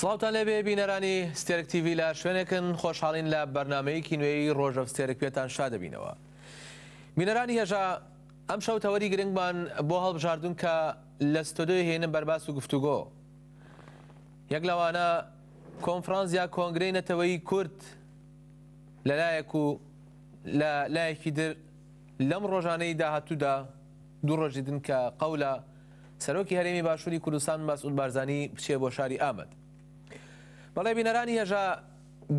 سڵاوتان لێبێ بینەرانی ستێرک تیوی لە شوێنێکن خۆشحاڵین لە بەرنمەیەکی نوێی ڕۆژەف ستێرک پێتان شادەبینەوە بینەرانی هێژا ئەم شەو تەوەری گرنگمان بۆ هەڵبژاردون کە لە ستۆدیۆی هێنم بەرباس و گفتوگۆ یەک لەوانە کۆنفرانس یا کۆنگرەی نەتەوەی کورد لەلایەک و لە لایەکی در لەم ڕۆژانەی داهاتوودا دوو ڕۆژ دیتن کە قەولە سەرۆکی هەرێمی باشووری کوردستان مەسعود بارزانی بچێ بۆ شاری ئامەد. بەڵێ بینەرانی هێژا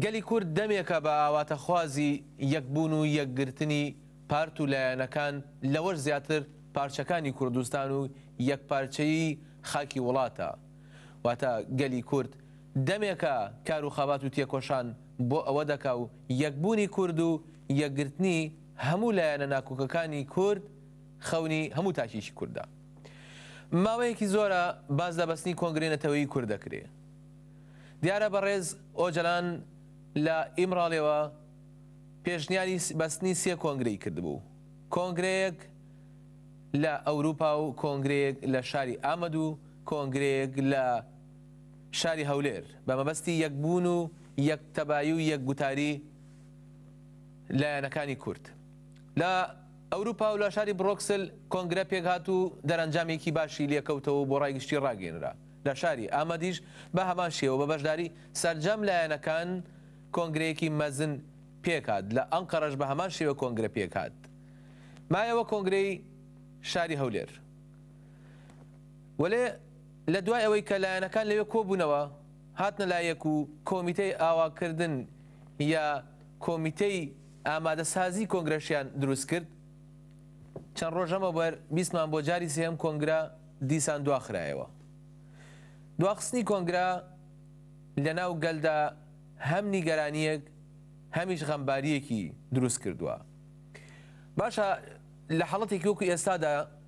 گەلی کورد دەمێکە بە ئاواتەخوازی یەکبوون و یەکگرتنی پارت و لایەنەکان لەوەش زیاتر پارچەکانی کوردستان و یەکپارچەیی خاکی وڵاتە واتە گەلی کورد دەمێکە کار و خەبات و تێکۆشان بۆ ئەوە دەکا و یەکبوونی کورد و یەکگرتنی هەموو لایەنە ناکۆکەکانی کورد خەونی هەموو تاکێکی کوردە. ماوەیەکی زۆرە باس لە بەستنی کۆنگرەی نەتەوەیی کورد دەکرێ. دیارە بەڕێز ئۆجەلان لە ئیمڕالیەوە پێشنیاری بەستنی سێ کۆنگرەی کردبوو، کۆنگرەیەک لە ئەوروپا و کۆنگرەیەک لە شاری ئامەد و کۆنگرەیەک لە شاری هەولێر بە مەبەستی یەکبوون و یەکتەبایی و یەک گوتاری لایەنەکانی کورد لە ئەوروپا و لە شاری برۆکسل کۆنگرە پێکهات و دەرەنجامێکی باشی لێکەوتەوە و بۆ ڕای گشتی ڕاگەیەنرا. لە شاری ئامەدیش بە هەمان شێوە بە بەشداری سەرجەم لایەنەکان کۆنگرەیەکی مەزن پێکهات، لە ئەنقەرەش بە هەمان شێوە کۆنگرە پێکهات. مایەوە کۆنگرەی شاری هەولێر وەلێ لە دوای ئەوەی کە لایەنەکان لەوێ کۆبوونەوە هاتنە لایەک و کۆمیتەی ئاواکردن یا کۆمیتەی ئامادەسازی کۆنگرەشیان دروست کرد، چەند ڕۆژ لەمەوبەر بیستمان بۆ جاری سێهەم کۆنگرە دیسان دواخرایەوە. دواخستنی کۆنگرە لەناو گەلدا هەم نیگەرانییەک هەمیش غەمبارییەکی دروست کردووە. باشە لە حاڵەتێکی وەکو ئێستادا،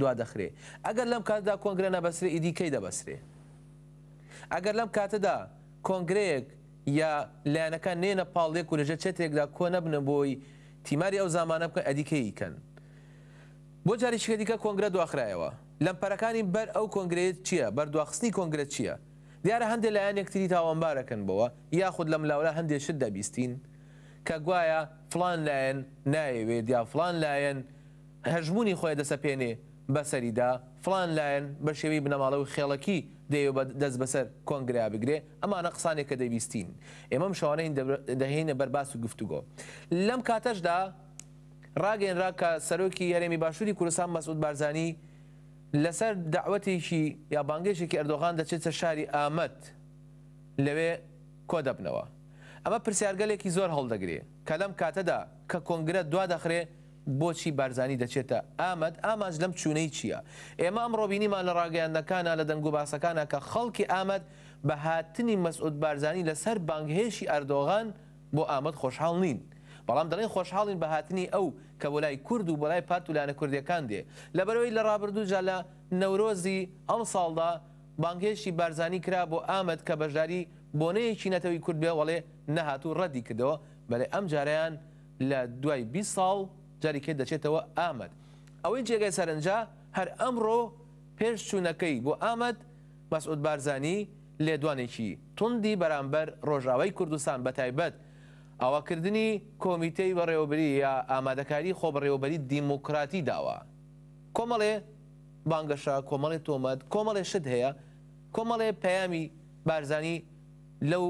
دوا دەخرێ ئەگەر لەم کاتەدا کۆنگرە نەبەسرێ ئیدی کەی دەبەسرێ ئەگەر لەم کاتەدا کۆنگرەیەک یا لایەنەکان نێنە پاڵ لێک و لەژێر چەترێکدا کۆ نەبنە بۆی تیماری ئەو زامانە بکەن ئەدی کەی ئیکەن بۆ جاریشیکە دیکە کۆنگرە دواخرایەوە لەمپەرەکانی بەر ئەو کۆنگرەیە چیە بەر دواخستنی کۆنگرە چیە دیارە هەندێ لایەن یەکتری تاوانبارەکەن بەوە یاخود لەم لاولا هەندێ شت دەبیستین کە گوایە فڵان لایەن نایەوێت یا فڵان لایەن هەژموونی خۆی دەسەپێنێ بەسەریدا، فڵان لایەن بە شێوەی بنەماڵە و خێڵەکی دەیەوێ دەست بەسەر کۆنگرەیا بگرێ، ئەمانە قسانێ کە دەبیستین ئێمە ئەم شەوانەی دەهێینە بەر باس و گفتوگۆ. لەم کاتەشدا ڕاگەیەنرا کە سەرۆکی هەرێمی باشووری کوردستان مەسعود بارزانی لە سەر دەعوەتێکی یا بانگێشێکی ئەردۆغان دەچێتە شاری ئامەد لەوێ کۆدەبنەوە. ئەمە پرسیارگەلێکی زۆر هەڵدەگرێ کە لەم کاتەدا کە کۆنگرە دوا دەخرێ، بۆچی بارزانی دەچێتە ئامەد؟ ئامانج لەم چوونەی چییە؟ ئێمە ئەمڕۆ بینیمان لە ڕاگەیاندنەکانا، لە دەنگوباسەکانا کە خەڵکی ئامەد بە هاتنی مەسعود بارزانی لە سەر بانگهێشی ئەردۆغان بۆ ئامەد خۆشحاڵ نین. بەڵام دەڵێن خۆشحاڵین بە هاتنی ئەو کە بۆ لای کورد و بۆ لای پارت و لایەنە کوردییەکان دێ. لەبەرئەوەی لە ڕابردوو جا لە نەورۆزی ئەمساڵدا بانگهێشتی بارزانی کرا بۆ ئامەد کە بەشداری بۆنەیەکی نەتەوەی کورد بێ وەڵێ نەهات و ڕەدی کردەوە. بەلێ ئەمجارەیان لە دوای بیست ساڵ جاری کەی دەچێتەوە ئامەد. ئەوەی جێگای سەرنجە هەر ئەمڕۆ پێش چوونەکەی بۆ ئامەد، مەسعود بارزانی لێدوانێکی توندی بەرامبەر رۆژئاوای کوردستان بەتایبەت ئاواکردنی کۆمیتەی بەڕێوەبریی ئامادەکاری خۆبەڕێوەبەری دیموکراتی داوە. کۆمەڵێ بانگەشە، کۆمەڵێ تۆمەت، کۆمەڵێ شت هەیە، کۆمەڵێ پەیامی بارزانی لەو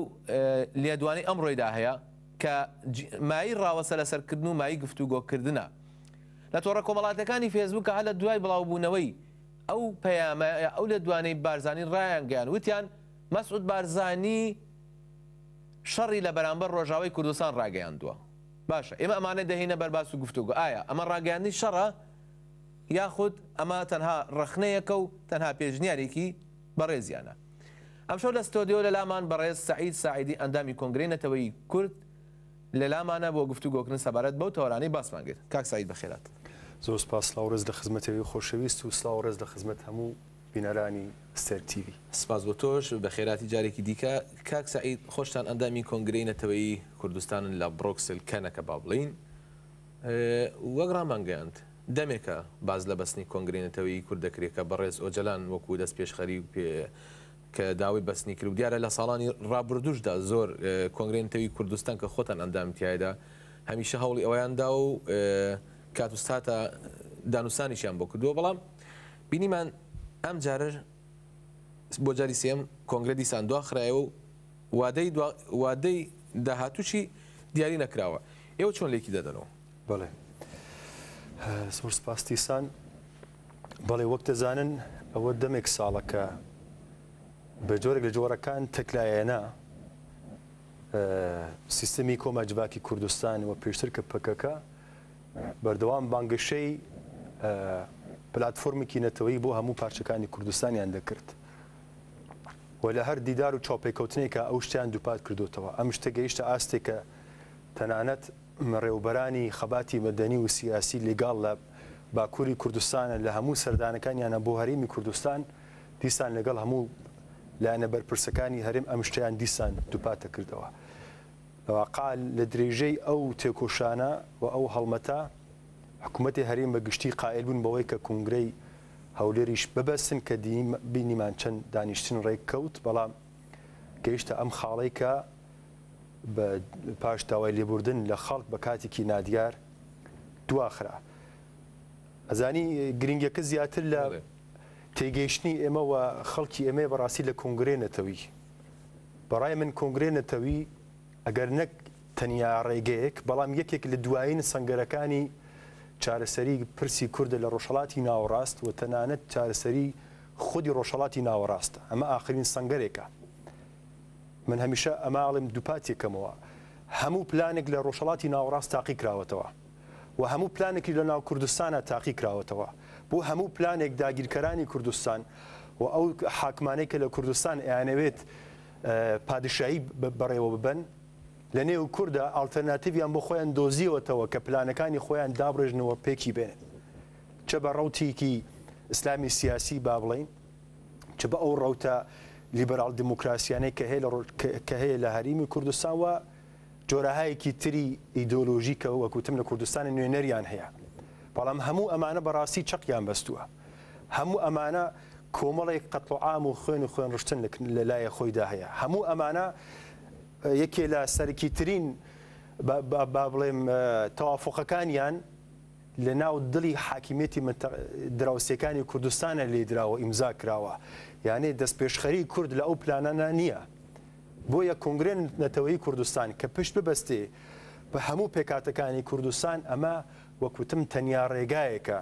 لێدوانەی ئەمڕۆیدا هەیە. کە مایەی ڕاوەسە لەسەرکردن و مایەی گفتوگۆکردنە لە تۆڕە کۆمەڵاتیەکانی فێسبووک کە هەر لە دوای بڵاوبوونەوەی ئەو پەیامە ئەو لێدوانەی بارزانی ڕایانگەیان وتیان مەسعود بارزانی شەڕی لە بەرامبەر ڕۆژاوای کوردستان ڕاگەیاندووە باشە ئێمە ئەمانە دەهینە بەر باس و گفتوگۆ ئایا ئەمە ڕاگەیاندنی شەڕە یاخود ئەمە تەنها ڕەخنەیەکە و تەنها پێشنیارێکی بەڕێزیانە ئەمشەو لە ستۆدیۆ لەلامان بەڕێز سەعید ساعدی ئەندامی کۆنگرەی نەتەوەیی کورد لەلامانە بۆ گفتوگۆکردن سەبارەت بەو تەوەرانەی باسمان کرد کاک سەعید بەخێرات. زۆر سوپاس سڵاو ڕێز لە خزمەتی ئەوی خۆشەویست و سڵاو ڕێز لە خزمەت هەموو بینەرانی ئەستێر تیڤی. سپاس بۆ تۆش، بەخێراتی جارێکی دیکە. کاک سەعید، خۆشتان ئەندامی کۆنگرەی نەتەوەیی کوردستانن لە بڕۆکسل کەنەکە با بڵێین، وەک رامانگەیاند، دەمێکە باس لە بەستنی کۆنگرەی نەتەوەیی کورد دەکرێت کە بەڕێز ئۆجەلان وەکو دەستپێشخەری پێ کە داوای بەستنی کرد و دیارە لە ساڵانی رابردووشدا زۆر کۆنگرەی نەتەوەیی کوردستان کە خۆتان ئەندامی تیایدا هەمیشە هەوڵی ئەوەیان داوە و کات و ساتە دانوستانیشیان بۆ کردووە بەڵام بینیمان ئەمجارە بۆ جاری سێیەم کۆنگرە دیسان دواخرایەوە و وادەی دوا وادەی داهاتووشی دیاری نەکراوە. ئێوە چۆن لێکی دەدەنەوە؟ بەڵێ. زۆر سپاس تیسان. بەڵێ وەک دەزانن ئەوە دەمێک ساڵە کە بە جۆرێک لە جۆرەکان تەکلایەنە سیستمی کۆما جڤاکی کوردستان و پێشتر کە پەکەکە بەردەوام بانگەشەی پلاتفۆرمێکی نەتەوەی بۆ هەموو پارچەکانی کوردستانیان دەکرد. و لە هەر دیدار و چاوپێکەوتنێکا ئەو شتیان دووپات کردۆتەوە. ئەم شتە گەیشتە ئاستێک کە تەنانەت مڕێوبەرانی خەباتی مەدەنی و سیاسی لیگاڵ لە باکووری کوردستانە لە هەموو سەردانەکانیانا بۆ هەرێمی کوردستان دیسان لەگەڵ هەموو لایەنە بەرپرسەکانی هەرێم ئەم شتەیان دیسان دووپاتە کردەوە. لەواقعا لە درێژەی ئەو تێکۆشانە و ئەو هەڵمەتە حکوومەتی هەرێم بە گشتی قایل بوون بەوەی کە کونگرەی هەولێریش ببەستن کە بینیمان چەند دانیشتن ڕێک کەوت، بەڵام گەیشتە ئەم خاڵەی کە پاش داوای لێبوردن لە خەڵک بە کاتێکی نادیار دواخرا. ئەزانی گرنگیەکە زیاتر لە تێگەیشتنی ئێمە و خەڵکی ئێمەیە بەڕاستی لە کۆنگرەی نەتەوی. بەڕای من کۆنگرەی نەتەوی، ئەگەر نەک تەنیا ڕێگەیەک، بەڵام یەکێک لە دوایین سەنگەرەکانی چارەسەری پرسی کوردە لە ڕۆژهەڵاتی ناوەڕاست و تەنانەت چارەسەری خودی ڕۆژهەڵاتی ناوەڕاستە. ئەمە ئاخرین سەنگەرێکە. من هەمیشە ئەمە ئەڵێم دووپاتی کەمەوە. هەموو پلانێک لە ڕۆژهەڵاتی ناوەڕاست تاقی کراوەتەوە و هەموو پلانێکیش لە ناو کوردستانا تاقی کراوەتەوە. بۆ هەموو پلانێک داگیرکەرانی کوردستان و ئەو حاکمانەی کە لە کوردستان ئەیانەوێت پادشایی بەڕێوە ببەن، لە نێو کوردا ئاڵتەرناتیڤیان بۆ خۆیان دۆزیەوەتەوە کە پلانەکانی خۆیان دابڕێژنەوە پێکی بێنن. چ بە ڕەوتێکی ئیسلامی سیاسی با بڵێین، چ بە ئەو ڕەوتە لیبراڵ دیموکراسیانەی کە هەیە کە هەیە لە هەریمی کوردستان و جۆرەهایەکی تری ئیدۆلۆژی کە وەک وتم لە کوردستانی نوێنەریان هەیە. بەڵام هەموو ئەمانە بەڕاستی چەقیان بەستووە. هەموو ئەمانە کۆمەڵێک قەتڵ و عام و خوێن و خوێن ڕشتن لە لایە خۆیدا هەیە هەموو ئەمانە یەکێ لە سەرکی ترین با بڵێم تەوافقەکانیان لە ناو دڵی حاکمیەتی دراوسەکانی کوردستانە لێ دراوە ئیمزا کراوە یانێ دەست پێشخەری کورد لە ئەو پلانانە نییە بۆیە کنگرێن نەتەوەی کوردستان کە پشت ببەستێ بە هەموو پێکاتەکانی کوردستان ئەمە وەکوتم تەنیا ڕێگایەکە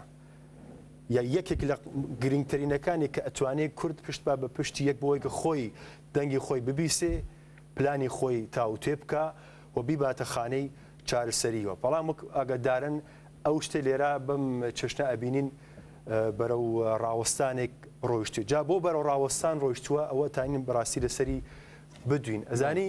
یا یەکێک لە گرنگترینەکانی کە ئەتوانێ کورد پشت با بە پشتی یەک بۆی کە خۆی دەنگی خۆی ببیسێ پلانی خۆی تاوتوێ بکا و بیباتە خانەی چارەسەریەوە بەڵام وەک ئاگادارن ئەو شتە لێرا بەم چەشنە ئەبینین بەرە و ڕاوەستانێک ڕۆیشتو جا بۆ بەرە ڕاوەستان ڕۆیشتووە ئەوە تاین بەڕاستی لەسەری بدوین ئەزانی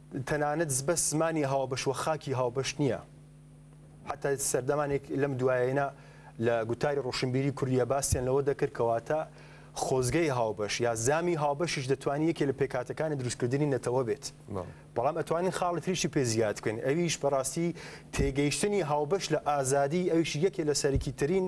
تەنانەت بەس زمانی هاوبەش و خاکی هاوبەش نییە. حتا سەردەمانێک لەم دوایەینا لە گوتاری ڕۆشنبیری کوردیا باسیان لەوە دەکرد کە واتە خۆزگەی هاوبەش یا زامی هاوبەشیش دەتوانین یەکێ لە پێکاتەکانی دروستکردنی نەتەوە بێت. بەڵام ئەتوانین خاڵی تریشی پێ زیاد بکەین ئەویش بەڕاستی تێگەیشتنی هاوبەش لە ئازادی ئەویش یەکێ لە سەرەکیترین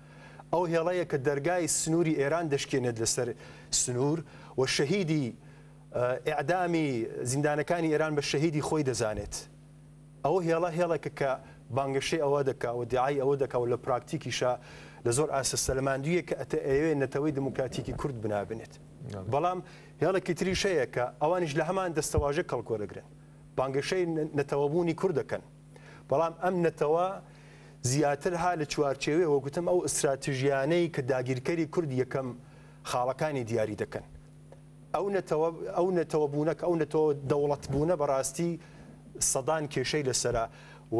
ئەو هێڵەیە کە دەرگای سنووری ئێران دەشکێنێت لەسەر سنوور و شەهیدی ئیعدامی زیندانەکانی ئێران بە شەهیدی خۆی دەزانێت. ئەو هێڵە هێڵێکە کە بانگەشەی ئەوە دەکا و دیعای ئەوە دەکا و لە پراکتیکیشە لە زۆر ئاستە سەلماندویە کە ئەتە ئەیەوێ نەتەوەی دموکراتیکی کورد بنابنێت. بەڵام هێڵێکی تریش هەیە کە ئەوانیش لە هەمان دەستەواژە کەڵک وەرەگرن. بانگەشەی نەتەوەبوونی کورد دەکەن. بەڵام ئەم نەتەوە زیاتر ها لە چوارچێوەی وەک گوتم ئەو ئستراتژیانەی کە داگیرکەری کورد یەکەم خاڵەکانی دیاری دەکەن ئەو نەتەوە ئەو نەتەوە بوونە کە ئەو نەتەوە دەوڵەت بوونە بەڕاستی سەدان کێشەی لەسرە و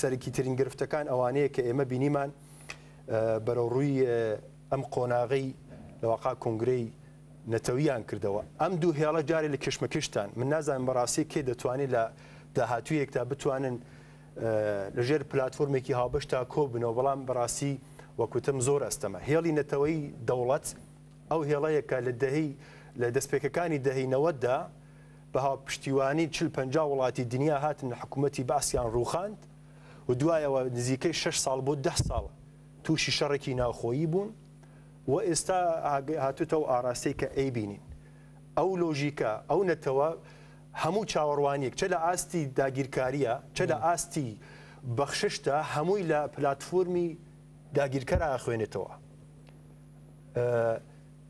سەرکی ترین گرفتەکان ئەوانەیە کە ئێمە بینیمان بەرەو ڕووی ئەم قۆناغی لەواقع کنگرەی نەتەوییان کردەوە ئەم دوو هێڵە جارێ لە کشمکشتان من نازانم بەڕاستی کێ دەتوانێت لە داهاتوویەکدا بتوانن لەژێر پلتفۆرمێکی هاوبەشتا کۆبنەوە بەڵام بەڕاستی وەکوتم زۆر ئەستەمە هێڵی نەتەوەی دەوڵەت ئەو هێڵەیەکە لە دەهی لە دەستپێکەکانی دەهی نەوەتدا بە هاوپشتیوانی چل پ وڵاتی دنیا هاتن لە حکوومەتی باسییان ڕووخاند و دوایەوە نزیکەی شش ساڵ بۆ ده ساڵ تووشی شەڕێکی ناوخۆیی بوون و ئێستا هاتوتەو ئاراستەی کە ئەیبینین ئەو لۆژیکە ئەو نەتەوە هەموو چاوەڕوانیەک چە لە ئاستی داگیرکاریە چە لە ئاستی بەخششتە هەمووی لە پلاتفۆرمی داگیرکەرا ئەخوێنێتەوە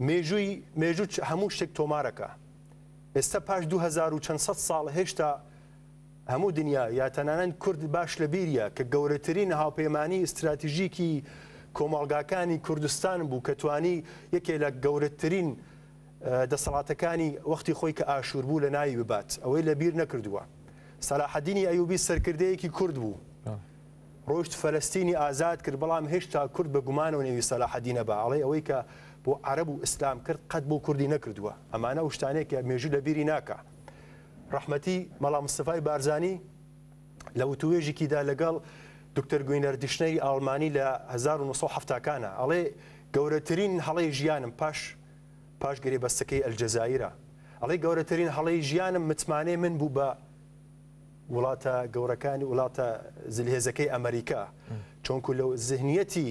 مێژووی مێژوو هەموو شتێک تۆمارەکە ئێستا پاش دوو هەزار و چەند سەد ساڵ هێشتا هەموو دنیا یا تەنانەت کورد باش لە بیریە کە گەورەترین هاوپەیمانی ئیستراتیژیکی کۆمەڵگاکانی کوردستان بوو کە توانی یەکێ لە گەورەترین دەسەڵاتەکانی وەختی خۆی کە ئاشوور بوو لە ناوی ببات ئەوەی لە بیر نەکردووە سەلاحەدینی ئەیوبی سەرکردەیەکی کورد بوو ڕۆشت فەلستینی ئازاد کرد بەڵام هێشتا کورد بە گومانەوە نێوی سەلاحەدینە بە ئەڵێ ئەوەی کە بۆ عرب و ئیسلام کرد قەت بۆ کوردی نەکردووە ئەمانە ئەو شتانێک کە مێژوو لە بیری ناکە ڕەحمەتی مەڵا مستەفای بارزانی لە وتووێژێکیدا لەگەڵ دکتەر گوینەر دیشنەری ئاڵمانی لە 1970 کانە ئەڵێ گەورەترین هەڵەی ژیانم پاش پاش گرێ بەستەکەی ئەلجەزایرە ئەڵێ گەورەترین هەڵەی ژیانم متمانەی من بوو بە وڵاتە گەورەکانی وڵاتە زلهێزەکەی ئەمریکا چۆنکو لەو زهنیەتی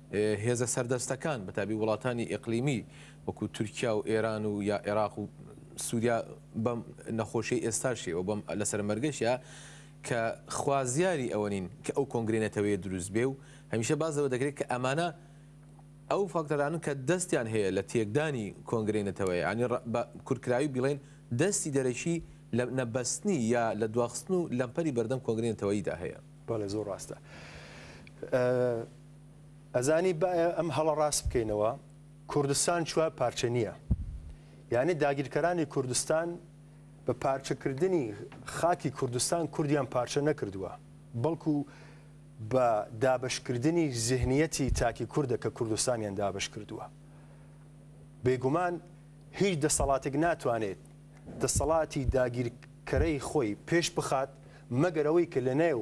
هێزە سەردەستەکان بەتابی وڵاتانی ئیقلیمی وەکو تورکیا و ئێران و یا ئێراق و سوریا بەم نەخۆشیەی ئێستاشێ و بەم لەسەر مەرگەشە کە خوازیاری ئەوە نین کە ئەو کۆنگرەی نەتەوەیە دروست بێ و هەمیشە باز لەوە دەکرێت کە ئەمانە ئەو فاکتەرانن کە دەستیان هەیە لە تێکدانی کۆنگرەی نەتەوەیە ینی بە کورتکراوی بڵێن دەستی دەرەکی لە نەبەستنی یا لە دواخستن و لەمپەری بەردەم کۆنگرەی نەتەوەییدا هەیە. بەڵێ زۆر ڕاستە. ئەزانی با ئەم هەڵە ڕاست بکەینەوە، کوردستان چوار پارچە نییە. یانی داگیرکەرانی کوردستان بە پارچەکردنی خاکی کوردستان کوردیان پارچە نەکردووە، بەڵکو بە دابەشکردنی زیهنیەتی تاکی کوردە کە کوردستانیان دابەش کردووە. بێگومان هیچ دەسەڵاتێک ناتوانێت دەسەڵاتی داگیرکەرەی خۆی پێش بخات مەگەر ئەوەی کە لەنێو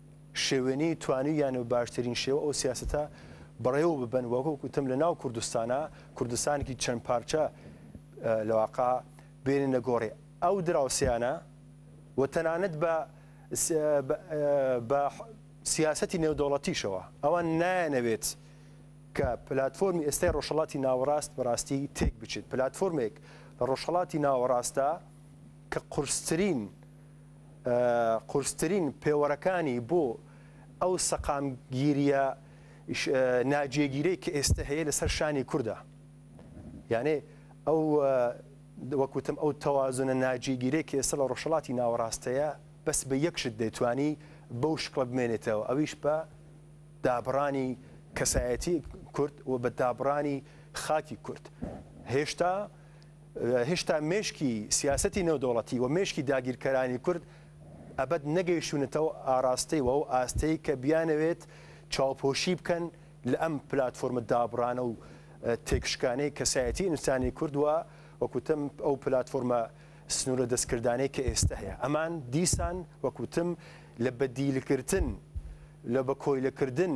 شێوێنی توانیویانە و باشترین شێوە ئەو سیاسەتە بەڕێوە ببەن و وەک وتم لە ناو کوردستانا کوردستانێکی چەند پارچە لە واقا بێننە گۆڕێ ئەو دراوسێیانە و تەنانەت بە بە سیاسەتی نێودەوڵەتیشەوە ئەوە نایەنەوێت کە پلتفۆرمی ئێستای ڕۆژهڵاتی ناوەڕاست بەڕاستی تێک بچێت پلتفۆرمێک لە ڕۆژهڵاتی ناوەڕاستە کە قرسترین قورسترین پێوەرەکانی بۆ ئەو سەقامگیریە ناجێگیرەی کە ئێستە هەیە لەسەر شانی کوردە. یانێ ئەو وەک وتم ئەو تەوازونە ناجێگیرەی کە ئێستە لە ڕۆژهەڵاتی ناوەڕاست هەیە بەس بە یەک شت دەیتوانی بەو شکڵە بمێنێتەوە ئەویش بە دابڕانی کەسایەتی کورد و بە دابڕانی خاکی کورد. هێشتا هێشتا مێشکی سیاسەتی نێودەوڵەتی و مێشکی داگیرکەرانی کورد ئەبەد نەگەیشتونەتەوە ئاراستەی و ئەو ئاستەی کە بیانەوێت چاوپۆشی بکەن لە ئەم پلاتفۆرمە دابڕانە و تێکشکانەی کەسایەتی ئینسانی کورد و وەکوتم ئەو پلاتفۆرمە سنوورە دەستکردانەی کە ئێستە هەیە ئەمان دیسان وەکوتم لە بەدیلکردن لە بە کۆیلەکردن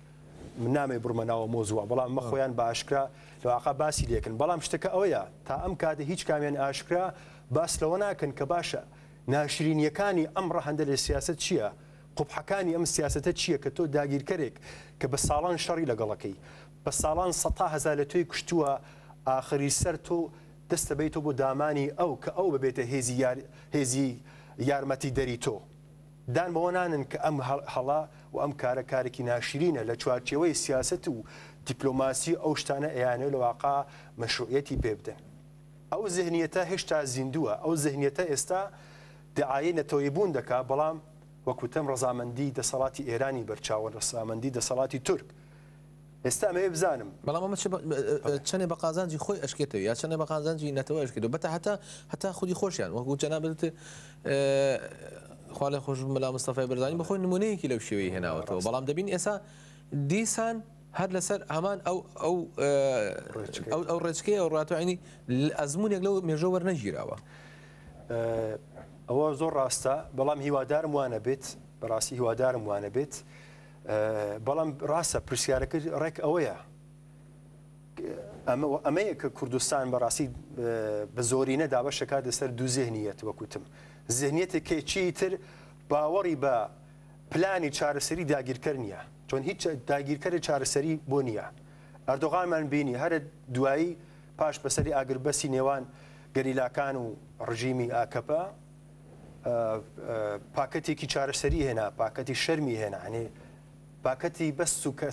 من نامەوێ بڕمە ناو مۆزووە بەڵام مە خۆیان بە ئاشکرا لەواقع باسی لەکن بەڵام شتەکە ئەوەیە تا ئەم کاتە هیچ کامیان ئاشکرا باس لەوە ناکەن کە باشە ناشرینیەکانی ئەم ڕەهندە لە سیاست چییە؟ قوبحەکانی ئەم سیاستە چییە کە تۆ داگیرکەرێک کە بە ساڵان شەڕی لەگەڵەکەی بە ساڵان سەتا هەزار لە تۆی کوشتووە ئاخری سەر تۆ دەستە بەیتۆ بۆ دامانی ئەو کە ئەو ببێتە هێزی یار هێزی یارمەتی دەری تۆ. دان بەوە نانن کە ئەم هەڵە و ئەم کارە کارێکی ناشرینە لە چوارچێوەی سیاسەت و دیپلۆماسی و ئەو شتانە ئەیانەوێت لە واقع مەشروعیەتی پێ بدەن. ئەو زهنیەتە هێشتا زیندووە، ئەو زهنیەتە ئێستا دەعایەی نەتەوەیی بوون دەکات، بەڵام وەک وتم ڕەزامەندی دەسەڵاتی ئێرانی بەرچاوە، ڕەسامەندی دەسەڵاتی تورک، ئێستا ئەمەوێ بزانم. بەڵام ئەمە چەنێ بە قازانجی خۆی ئەشکێتەوە یا چەنێ بە قازانجی نەتەوە ئەشکێتەوە بەتا هەتا هەتا خودی خۆشیان وەکو جەنابت وتت خوا لێ خۆش مەلا مستەفای بەرزانی بە خۆی نمونەیەکی لەو شێوەی هێناوەتەوە بەڵام دەبین ئێسا دیسان هەر لەسەر هەمان ئەو ئەو ئەو ڕێچکەیە ئەو ڕاتوانی ئەزمونێک لەو مێژە وەرنەگیراوە ئەوە زۆر ڕاستە بەڵام هیوادارم وانە بێت بەڕاستی هیوادارم وانە بێت بەڵام ڕاستە پرسیارەکە ڕێک ئەوەیە ئەمەیە کە کوردستان بەڕاستی بە زۆرینە دابەشەکات لەسەر دوو زێنیەت وەکوتم زێنیەتە کێچی تر باوەڕی بە پلانی چارەسەری داگیرکەر نییە چۆن هیچ داگیرکەری چارەسەری بۆ نییە ئەردۆغانمان بینی هەرە دوایی پاش بەسەری ئاگربەسی نێوان گەریلاکان و ڕژیمی ئاکەپە پاکەتێکی چارەسەری هێنا پاکەتی شەرمی هێنا ئەنی پاکەتی بەس سوکە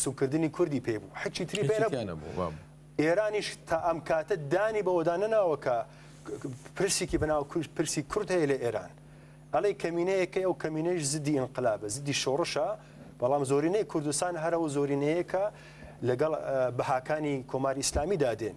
سوکردنی کوردی پێ بوو حچی تری پێ نەبوو ئێرانیش تا ئەم کاتە دانی بەوەدا نەناوەکە پرسێکی بەناو پرسی کورد هەیە لە ئێران ئەڵێ کەمینەیەکە ئەو کەمینەش زدی ئەنقلابە زدی شۆڕشە بەڵام زۆرینەی کوردستان هەرەوە زۆرینەیەکە لەگەڵ بەهاکانی کۆماری ئیسلامی دادێن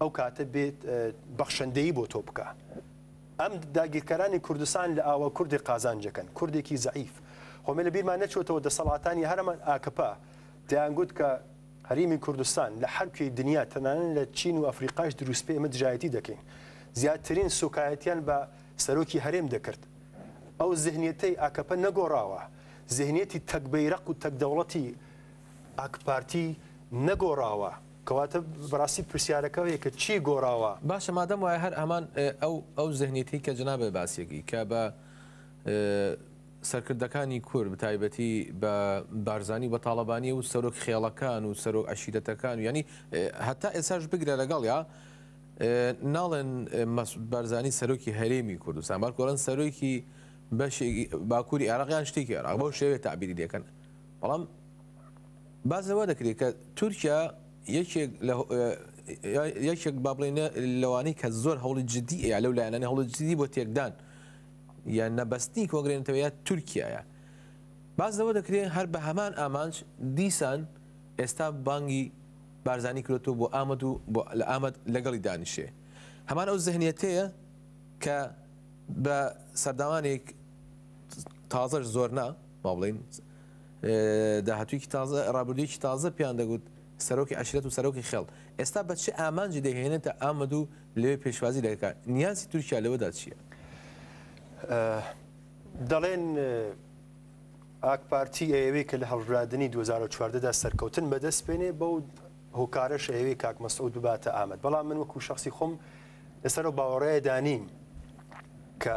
ئەو کاتە بێت بەخشەندەیی بۆ تۆ بکا. ئەم داگیرکەرانی کوردستان لە ئاوە کوردی قازانجەکەن، کوردێکی زەعیف. خۆ مە لە بیرمان نەچۆتەوە دەسەڵاتانی هەرەمان ئاکەپە دەیان گوت کە هەریمی کوردستان لە هەر کوێی دنیا تەنانەت لە چین و ئەفریقاش دروست بێ ئێمە دژایەتی دەکەین. زیاترین سوکایەتیان بە سەرۆکی هەرێم دەکرد. ئەو زهنیەتەی ئاکەپە نەگۆڕاوە. زهنیەتی تەک بەیرەق و تەک دەوڵەتی ئاکپارتی نەگۆڕاوە. کەواتە بەڕاستی پرسیارەکە ئەوەیە کە چی گۆڕاوە؟ باشە مادەم وایە هەر هەمان ئەو ئەو زهنیەتەی کە جەنابت باسیەکەی کە بە سەرکردەکانی کورد بەتایبەتی بە بارزانی و بە تاڵەبانی و سەرۆک خێڵەکان و سەرۆک عشیرەتەکان و ینی هەتا ئێساش بگرە لەگەڵ یا ناڵێن بارزانی سەرۆکی هەرێمی کوردستان بار گۆڵن سەرۆکی بەشێکی باکووری عێراقیان شتێکی عێراق بەو شێوێ تعبیری دەکەن بەڵام باس لەوە دەکرێت کە تورکیا یەکێک با بڵێ لەوانەی کە زۆر هەوڵی جددی ئەیا لەو لایەنانی هەوڵی جددی بۆ تێکدان یان نەبەستنی کۆنگرێنتەوەیە تورکایە باز لەوە دەکرێت هەر بە هەمان ئامانج دیسان ئێستا بانگی بارزانانی کرێتەوە بۆ ئامد و لە ئامد لەگەڵی دانیشێ هەمان ئەو زەهنیەتەیە کە بە سەرداوانێک تازەش زۆر نا با بڵین داهاتوویەکی تازە، ڕابردوویەکی تازە پێیان دەگوت سەرۆکی عەشیرەت و سەرۆکی خێڵ، ئێستا بە چ ئامانجی دەیهێنێتە ئامەد و لەوێ پێشوازی دەکا؟ نیازی تورکیا لەوەدا چییە؟ دەڵێن ئاکپارتی ئەیەوێ کە لە هەڵبژاردنی دوو هەزار و چواردە دا سەرکەوتن بەدەست بێنێ، بەو هۆکارەش ئەیەوێ کاک مەسعود بباتە ئامەد، بەڵام من وەکوو شەخسی خۆم لەسەر ئەو باوەڕەیەدا نیم کە،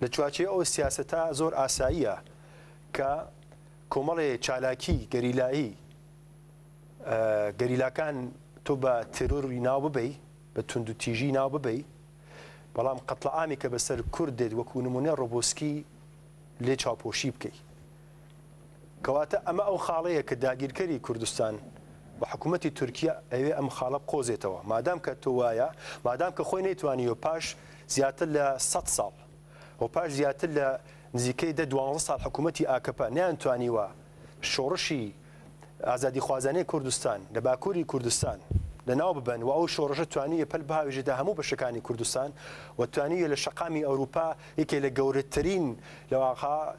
لە چوارچێوەی ئەو سیاسەتە زۆر ئاساییە کە کۆمەڵێ چالاکی گەریلایی گەریلاکان تۆ بە تێرۆری ناو ببەی بە تونند و تیژی ناو ببەی بەڵام قەتڵەعامی کە بەسەر کورد دێت وەکو نمونە ڕۆبۆسکی لێ چاوپۆشی بکەیت کەواتە ئەمە ئەو خاڵەیە کە داگیرکەری کوردستان و حکوومەتی تورکیە ئەوێ ئەم خاڵە بقۆزێتەوە. مادام کە تۆ وایە، مادام کە خۆی نەیتوانیوە پاش زیاتر لە سەد ساڵ و پاش زیاتر لە نزیکەی دە دوانزە ساڵ حکوومەتی ئاکەپە نەیانتوانیوە شۆڕشی ئازادیخوازانەی کوردستان لە باکووری کوردستان لە ناو ببەن و ئەو شۆڕشە توانیویە پەل بهاوێژێتە هەموو بەشەکانی کوردستان و توانیویە لە شەقامی ئەورووپا یەکێ لە گەورەترین لە واقعا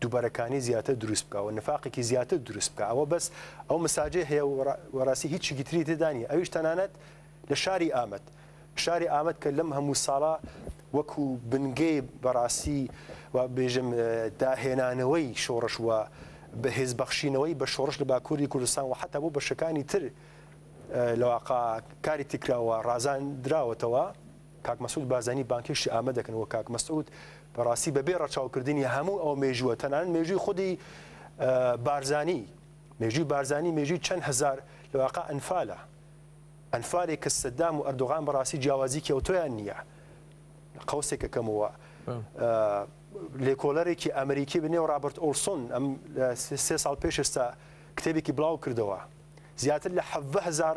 دوبەرەکانی زیاتر دروست بکا و نفاقێکی زیاتر دروست بکا ئەوە بەس ئەو مساجەی هەیە و وەڕاستی هیچیکی تری تێدا نیە ئەویش تەنانەت لە شاری ئامەد شاری ئامەد کە لەم هەموو ساڵە وەکو بنگەی بەڕاستی و بێژم داهێنانەوەی شۆڕش و بەهێز بەخشینەوەی بە شۆڕش لە باکووری کوردستان و حتا بۆ بەشەکانی تر لەواقع کاریتی کراوە ڕازان دراوەتەوە کاک مەسعود بارزانی بانگهێشتی ئامە دەکەن و کاک مەسعود بەڕاستی بەبێ ڕەچاوکردنی هەموو ئەو مێژووە تەنانەت مێژووی خودی بارزانی مێژووی بارزانی مێژووی چەند هزار لەواقع ئەنفالە ئەنفالێک کە سەدام و ئەردوغان بەڕاستی جیاوازیکی ئەو تۆیان نییە قوسێکە کەمەوە لێکۆلەرێکی ئەمریکی بنێ و ڕابرت ئۆلسۆن ئەم سێ ساڵ پێش ئێستا کتێبێکی بڵاو کردەوە زیاتر لە هزار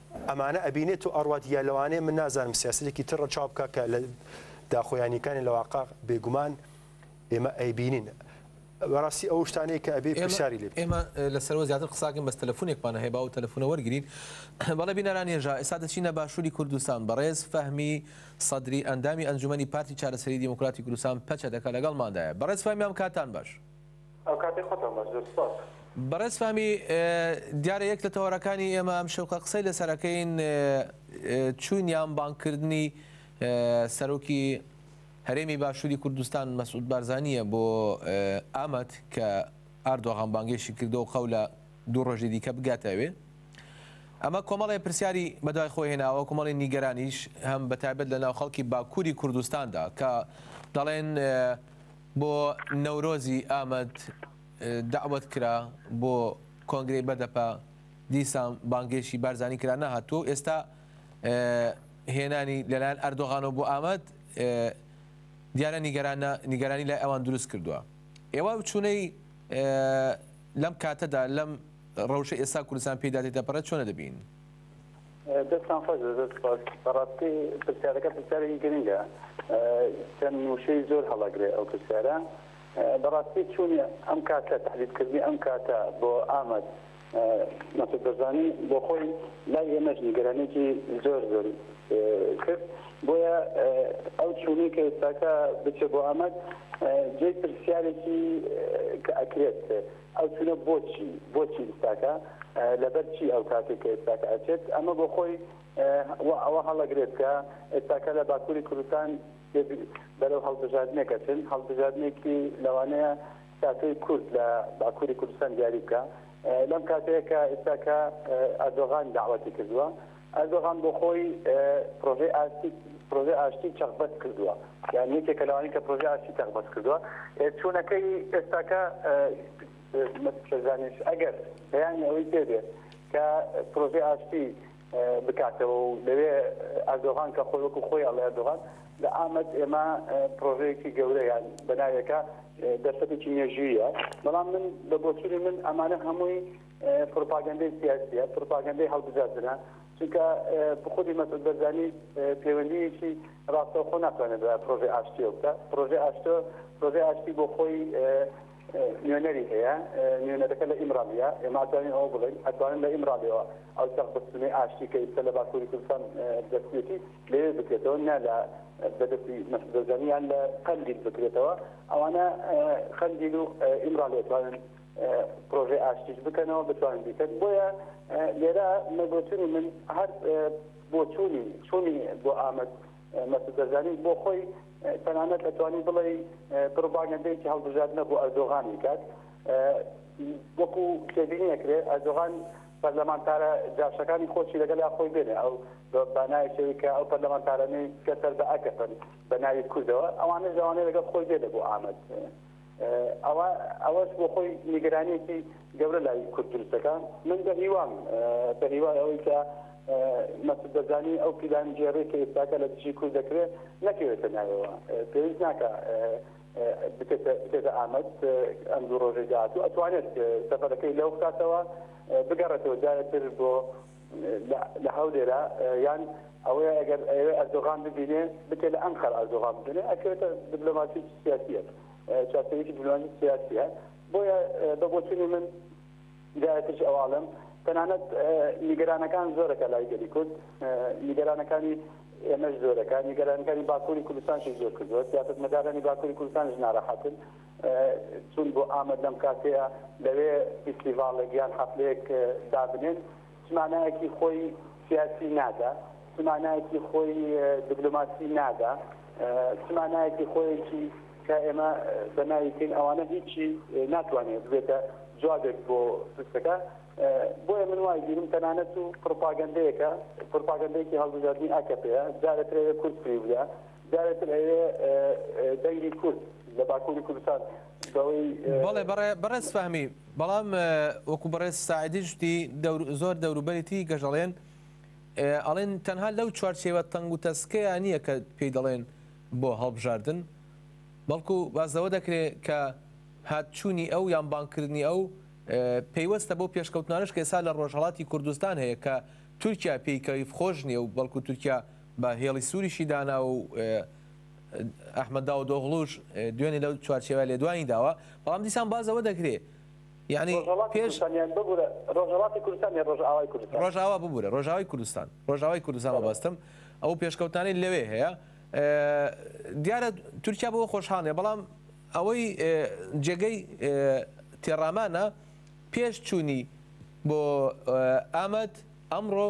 ئەمانە ئەبینێ تۆ ئەڕوات یا لەوانەیە من نازانم سیاسەتێکی تر ڕەچاو بکە کە لە داخۆیانیکانی لە واقع بێگومان ئێمە ئەیبینین بەڕاستی ئەو شتانەیە کە ئەبێ پرسیاری لێ ئێمە لەسەرەوە زیاتر قساکەم بەس تەلەفۆنێکمان هەیە باو تەلەفۆنە وەرگین بەڵێ بینەران ێژا ئێستا دەچینە باشووری کوردستان بەڕێز فەهمی سەدری ئەندامی ئەنجومی پارتی چارەسەری دیموکراتی کوردستان پەچە دەکە لەگەڵماندایە بەڕێز فەهمیان کاتان باش. ئەوکاتەی خۆتەوە مە زوور سپاس. بەڕێز فامی دیارە یەک لە تەوەرەکانی ئێمە ئەم شەوقە قسەی لەسەر ئەکەین چوین یان بانگ کردنی سەرۆکی هەرێمی باشووری کوردستان مەسعود بارزانیە بۆ ئامەد کە ئاردۆغان بانگێشی کردەوە قەو لە دوو ڕۆژی دیکە بگاتەوێ ئەمە کۆمەڵی پرسیاری بەدوای خۆی هێناوە کۆمەڵی نیگەرانیش هەم بەتابەت لە ناو خەڵکی باکووری کوردستاندا کە دەڵێن بۆ نەورۆزی ئامەد دەعوەت کرا بۆ کۆنگرەی بەدەپە، دیسان بانگێشی بارزانی کرا نەهاتووە و ئێستا هێنانی لەلایەن ئەردۆغانەوە بۆ ئامەد دیارە نیگەرانی لای ئەوان دروست کردووە. ئێوە چوونەی لەم کاتەدا لەم رەوشەی ئێستا کوردستان پێیدا تێدەپەڕێت چۆنە دەبینن؟ دەستتان خۆش بێت، زۆر سوپاس. بەڕاستی پرسیارەکە پرسیارێکی گرنگە. چەند وشەی زۆر هەڵەگرێ ئەو پرسیارە. بەڕاستی چوونی ئەم کاتە، تەحدیدکردنی ئەم کاتە بۆ ئامەد، مەسعود بەرزانی بۆ خۆی لای ئێمەش نیگەرانییەکی زۆر زۆر کرد. بۆیە ئەو چوونەی کە ئێستاکە بچێ بۆ ئامەد جێی پرسیارێکی کە ئەکرێت، ئەو چونە بۆچی بۆچی ئیستاکە لەبەر چی ئەو کاتێک کە ئێستاکە ئەچێت ئەمە بۆ خۆی وا ئەوە هەڵەگرێت کە ئێستاکە لە باکووری کوردستان بەرەو هەڵبژاردنێک ئەچن هەڵبژاردنێکی لەوانەیە ساتۆی کورد لە باکووری کوردستان دیاری بکە لەم کاتەیە کە ئێستاکە ئەردۆغان داواتی کردووە ئەردۆغان بۆ خۆی پرۆژەی ئاشتی پرۆژەی ئاشتی چەق بەست کردووە یان یەکێکە لەوانەی کە پرۆژەی ئاشتی چەق بەست کردووە چوونەکەی ئێستاکە شەزانش ئەگەر بەیانی ئەوەی پێ بێ کە پرۆژەی ئاشتی بکاتەوە و لەوێ ئەردۆغان کە خۆی وەکو خۆی ئەڵێ ئەردۆغان لە ئامەد ئێمە پرۆژەیەکی گەورە یان بەناوێکە دەرفەتێکی مێژوویە بەڵام من بە بۆچوونی من ئەمانە هەمووی پروپاگەندەی سیاسیە پروپاگەندەی هەڵبژاردنە چونکە خودی مەسعود بەرزانی پەیوەندیەکی ڕاستەوخۆ ناتوانێت بە پرۆژەی ئاشتیەوە بکە پرۆژەی ئاشتۆ پرۆژەی ئاشتی بۆ خۆی نوێنەری هەیە نوێنەرەکە لە ئیمرالیە ئێماتوانین ئەوە بڵێن ئەتوانن لە ئیمرالیەوە ئەو چەقبستنی ئاشتی کە ئیستا لە باکووری کوردستان دەستێتی لێ بکرێتەوە نە لە بەدەستی مەسدەزانیان لە قەندیل بکرێتەوە ئەوانە قەندیل و ئیمرالیەتوانن پرۆژەی ئاشتیش بکەنەوە بتوانن بیکەن بۆیە لێرە مەبۆچونی من هەر بۆچوونی چوونی بۆ ئامەد مەسودەرزانی بۆ خۆی تەنانەت دەتوانی بڵێ پرۆپاگەندەیەکی هەڵبژاردنە بۆ ئەردۆغان بکات وەکو تێبینی ئەکرێت ئەردۆغان پەرلەمانتارە جاشەکانی خۆشی لەگەل خۆی بێنێ ئەو بانایشەوەی کە ئەو پەرلەمانتارانەی کە سەر بە ئەکەپن بە ناوی کوردەوە ئەوانە لەوانەیە لەگەڵ خۆی بێنێ بۆ ئامەد ئەوا ئەوەش بۆ خۆی نیگەرانیەکی گەورە لای کورد دروست دەکا من بە هیوام بە هیوای ئەوەی کە مەسود بەرزانی ئەو پیلان گێڕی کە ئێستاکە لە دژی کورد دەکرێت نەکەوێتە ناوەوە پێویست ناکە بکێتە ئامەد ئەم دوو ڕۆژەی داهاتوو ئەتوانێت سەفەرەکەی لەو بکاتەوە بگەڕێتەوە جارێتر بۆ لە هەولێرە یان ئەوەیە ئەگەر ئەیەوێ ئەردۆغان ببینێ بچێ لە ئەنقەرە ئەردۆغان ببینێ ئەکەوێتە دبلۆماسی سیاسییەک چارەسەرێکی دبلۆماسی سیاسییە بۆیە بە بۆچوونی من دایترش ئەواڵم تەنانەت نیگەرانەکان زۆرەکە لای گەلی کورد نیگەرانەکانی ئێمەش زۆرەکە نیگەرانەکانی باکووری کوردستانشی زۆر کردووە سیاستمەدارانی باکووری کوردستانش ناراحەتن چوون بۆ ئامەد لەم کاتەیە لەوێ فیستیڤاڵێک یان حەفلەیەک دابنێن چ مانایەکی خۆی سیاسی نادا چ مانایەکی خۆی دیبلۆماسی نادا چ مانایەکی خۆیەکی کە ئێمە بەناوی بکەین ئەوانە هیچی ناتوانێت بێتە جوابێک بۆ پرسەکە بۆیە من وای بیرم تەنانەت و پرۆپاگەندەیەکە پرۆپاگەندێکی هەڵبژاردنی ئاکەپەیە جارەکرێت کورد پێ بدە جارێتر ئەوێ دەنگی کورد لە باکوری کوردستان بەوەی. بەڵێ بەڕێز فەهمی بەڵام وەکو بەڕێز ساعدیش وتی زۆر دەوروبەرێتی گەژەڵێن ئەڵێن تەنها لەو چوارچێوە تەنگ و تەسکەیە نییە کە پێی دەڵێن بۆ هەڵبژاردن بەڵکو باز لەوە دەکرێت کە هات چوونی ئەو یان بانکردنی ئەو پەیوەستە بۆ پێشکەوتنانش کە ئێسا لە ڕۆژهڵاتی کوردستان هەیە کە تورکیا پێیکەیف خۆش نیە و بەڵکو تورکیا بە هێڵی سووریشی داناوە و ئەحمەد داودئۆغڵوش دوێنێ لەو چوارچێوەیە لێدوانی داوە، بەڵام دیسان باس لەوە دەکرێ یانی پێش ڕۆژهەڵاتی کوردستان یان ڕۆژئاوای کوردستان؟ ڕۆژئاوا ببوورە، ڕۆژئاوای کوردستان، ڕۆژئاوای کوردستان مەبەستم، ئەو پێشکەوتنانەی لەوێ هەیە دیارە تورکیا بەوە خۆشحاڵ نییە، بەڵام ئەوەی جێگەی تێڕامانە پێش چوونی بۆ ئامەد ئەمڕۆ،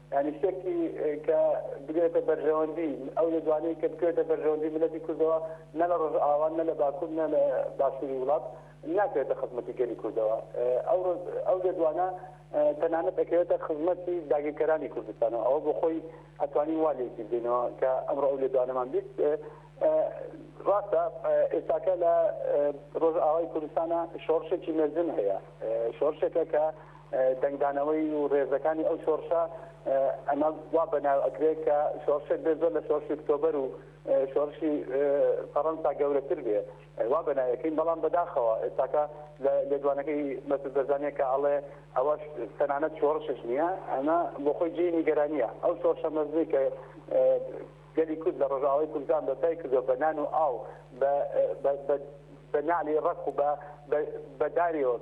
یانی شتێکی کە بگرێتە بەرژەوەندی ئەو لێدوانەی کە بکرێتە بەرژەوەندی میللەتی کوردەوە نە لە ڕۆژئاوا نە لە باکور نە لە باشوری وڵات ناکرێتە خزمەتی گەلی کوردەوە ئەو ئەو لێدوانە تەنانەت دەکەوێتە خزمەتی داگیرکەرانی کوردستانەوە ئەوە بۆ خۆی ئەتوانین وا لێکی بدەینەوە کە ئەمڕۆ ئەو لێدوانەمان بیست ڕاستە ئێستاکە لە ڕۆژئاوای کوردستانە شۆڕشێکی مەزن هەیە شۆڕشێکە کە دەنگدانەوەی و رێزەکانی ئەو شۆڕشە ئەمە وا بەناو ئەکرێ کە شۆڕشێک بێ زۆر لە شۆڕشی ئۆکتۆبەر و شۆڕشی فەڕەنسا گەورەتر بێ وا بەناویەکەین بەڵام بەداخەوە ئێستاکە لە لێدوانەکەی مەسود بەرزانیە کە ئەڵێ ئەوەش تەنانەت شۆڕشش نییە ئەمە بۆ خۆی جێی نیگەرانییە ئەو شۆڕشە مەزنی کە گەلی کورد لە ڕۆژاوای کوردستان بەپای کردوە بە نان و ئاو بە نالی ڕەق و بە بەداریەوە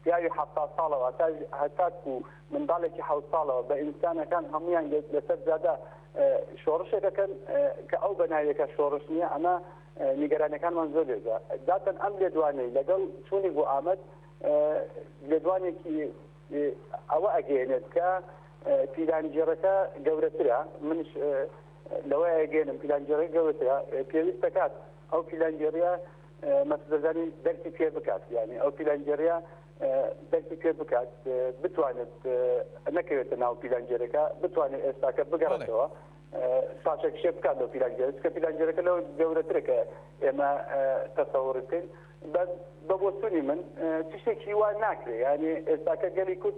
پیاوی حەفتا ساڵەوە هەتا هەتاکو منداڵێکی حەوت ساڵەوە بە ئینسانەکان هەموویان گرت لەسەر جادە شۆڕشێک دەکەن کە ئەو بە ناویەکە شۆڕش نییە ئەمە نیگەرانەکانمان زۆر لێدا داتەن ئەم لێدوانەی لەگەڵ چوونی بۆ ئامەد لێدوانێکی ئەوە ئەگەێنێت کە پیلانگێڕەکە گەورەترە منش لەوەیە گەێنم پیلانگێڕی گەورەترە پێویست دەکات ئەو پیلانگێڕە مەسعود بەرزانی دەرکی پێ بکات یانی ئەو پیلانگێڕیە دەرکی پێ بکات بتوانێت نەکەوێتە ناو پیلانگێرەکە بتوانێت ئێستاکە بگەڕێتەوە پاشە کشێ بکات لە پیلانگێر کە پیلانگێرەکە لەو گەورەترەکە ئێمە تەسەوڕ بکەین بە بۆچوونی من تشتێکی وا ناکرێت یانی ئێستاکە گەلی کورد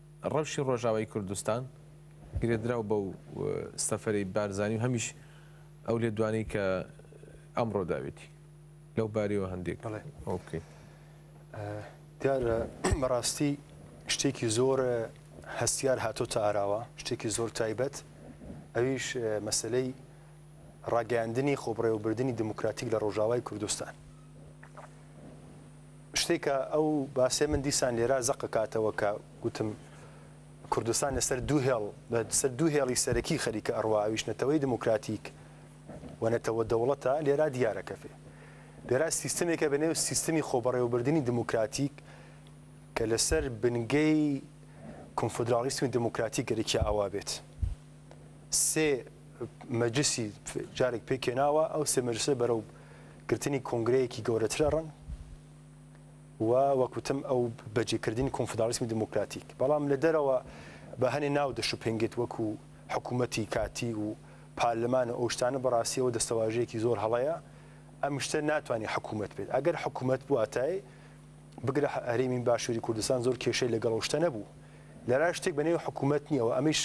ڕەوشی ڕۆژاوای کوردستان گرێدراو بەو سەفەرەی بارزانی و هەمیش ئەو لێدوانەی کە ئەمڕۆ داوێتی لەو بارەیەوە هەندێک بڵێ ئەو بکەین دیارە بەڕاستی شتێکی زۆر هەستیار هاتۆ تا ئاراوە شتێکی زۆر تایبەت ئەویش مەسلەی ڕاگەاندنی خۆبڕێوەبردننی دموکراتیک لە ڕۆژاوای کوردستان شتێک کە ئەو باسەی من دیسان لێرا زەق ئەکاتەوە کە گوتم کوردستان لەسەر دوو هێڵ لەسەر دوو هێڵی سەرەکی خەریکە ئەڕوا ئەویش نەتەوەی دموکراتیک و نەتەوە دەوڵەتە لێرا دیارە کەفێ لێرا سیستمێکە بە نێو سیستمی خۆبەڕێوەبردننی دموکراتیک کە لەسەر بنگەی کنفدراڵیسمی دموکراتی گەرکیا ئاوا بێت. سێ مەجلسی جارێک پێکێناوە ئەو سێ مەجلسە بەرەو گرتنی کۆنگرەیەکی گەورەتر ئەڕن و وەکوتم ئەو بەجێکردنی کۆنفداڵیسمی دموکراتیک بەڵام لە دەرەوە بە هەنێ ناو دەشوپێنگێت وەکو حکوومەتی کاتی و پارلەمان و ئەوشتانە بەڕاستیەوە دەستەواژەیەکی زۆر هەڵەیە ئەم شتە ناتوانانی حکوومەت بێت ئەگەر حکوومەت بواتای بگرە هەرێمی باشوری کوردستان زۆر کێشەی لەگەڵ ئەو شتە نەبوو لەرای شتێک بە نێوی حکوومەت نییە و ئەمیش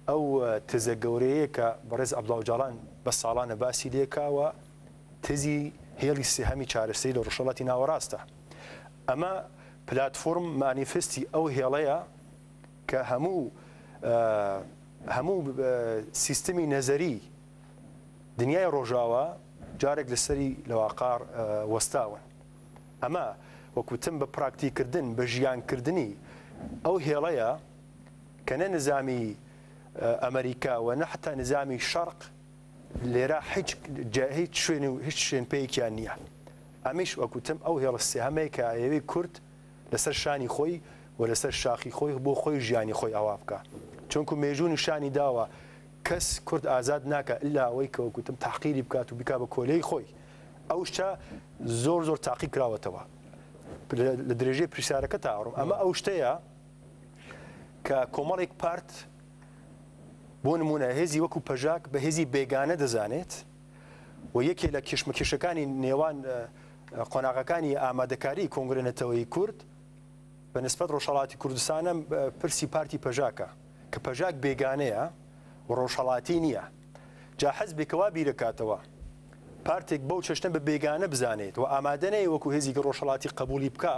ئەو تزە گەورەیە کە بەڕێز ئەبلاوجاڵان بە ساڵانە باسی لێکاوە تزی هێڵی سێهەمی چارەسەری لە ڕژەڵاتی ناوەڕاستە ئەمە پلتفۆرم مانیفستی ئەو هێڵەیە کە هەموو هەموو سیستمی نەزەری دنیای ڕۆژاوە جارێک لەسەری لەواقار وەستاون ئەمە وەک وتم بە پراکتیک کردن، بە ژیان کردنی ئەو هێڵەیە کە نە نزامی ئەمریکا و نە حەتا نزامی شەرق لێرە هیچ جا هیچ شوێن و هیچ شوێن پێیەکیان نییە. ئەمیش وەک وتم ئەو هێڵە سێهەمەیە کە ئەیەوێ کورد لە سەر شانی خۆی و لە سەر شاخی خۆی بۆ خۆی ژیانی خۆی ئاوا بکا. چونکوو مێژوو نیشانی داوە کەس کورد ئازاد ناکا ئیلا ئەوەی کە وەک وتم تەحقیری بکات و بیکا بە کۆلێی خۆی. ئەو شتە زۆر زۆر تاقی کراوەتەوە لە درێژەی پرسیارەکە تا ئەڕۆ ئەمە ئەو شتەیە کە کۆمەڵێک پارت بۆ نمونە هێزی وەکو پەژاک بە هێزی بێگانە دەزانێت و یەکێ لە کێشمەکێشەکانی نێوان قۆناغەکانی ئامادەکاری کۆنگرێنەتەوەی کورد بە نسبەت ڕۆژهڵاتی کوردستانم پرسی پارتی پەژاکە کە پەژاک بێگانەیە و ڕۆژهڵاتی نییە جا حزبێکە وا بیرەکاتەوە پارتێک بەو چەشنە بە بێگانە بزانێت و ئامادە نەیە وەکو هێزێکی ڕۆژهەڵاتی قەبووڵی بکا،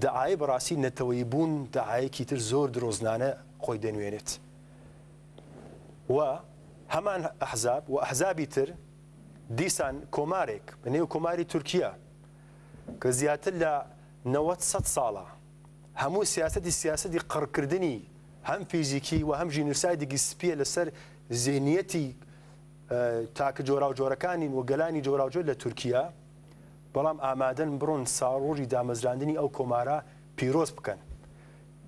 دەعایەی بەڕاستی نەتەوەیی بوون دەعایەکی تر زۆر درۆزنانە خۆی دەنوێنێت و هەمان ئەحزاب و ئەحزابی تر دیسان کۆمارێک لە نێو کۆماری تورکیە کە زیاتر لە نەوەد سەد ساڵە، هەموو سیاسەتی سیاسەتی قڕکردنی هەم فیزیکی و هەم ژینوسایدێکی سپییە لەسەر زێنییەتی تاکە جۆراوجۆرەکانی و گەلانی جۆراوجۆر لە تورکیا، بەڵام ئامادەن بڕۆن ساڵڕۆژی دامەزراندنی ئەو کۆمارە پیرۆز بکەن.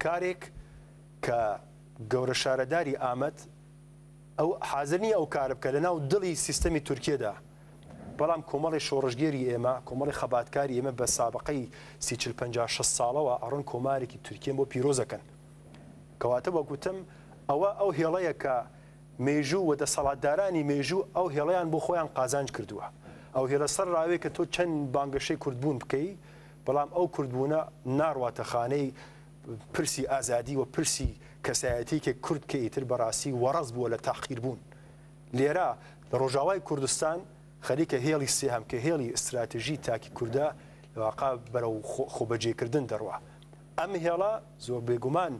کارێک کە گەورەشارەداری ئامەد، ئەو حازر نییە ئەو کارە بکات لە ناو دڵی سیستەمی تورکیەدا، بەڵام کۆمەڵی شۆڕشگێری ئێمە، کۆمەڵی خەباتکاری ئێمە بە سابقەی سی چل پەنجا شەست ساڵەوە ئەڕۆن کۆمارێکی تورکیەن بۆ پیرۆز ئەکەن. کەواتە وەک وتم ئەوە ئەو هێڵەیە کە مێژوو و دەسەڵاتدارانی مێژوو ئەو هێڵەیان بۆ خۆیان قازانج کردووە. ئەو هێڵە سەر ڕاوێ کە تۆ چەند بانگەشەی کوردبوون بکەی بەڵام ئەو کوردبوونە ناڕواتە خانەی پرسی ئازادی و پرسی کەسایەتیەکی کورد کە ئیتر بەڕاستی وەڕەز بووە لە تەحقیر بوون لێرە لە ڕۆژاوای کوردستان خەریکە هێڵی سێهەم کە هێڵی ئیستراتژی تاکی کوردە لە واقع بەرەو خۆبەجێکردن دەڕوا ئەم هێڵە زۆر بێگومان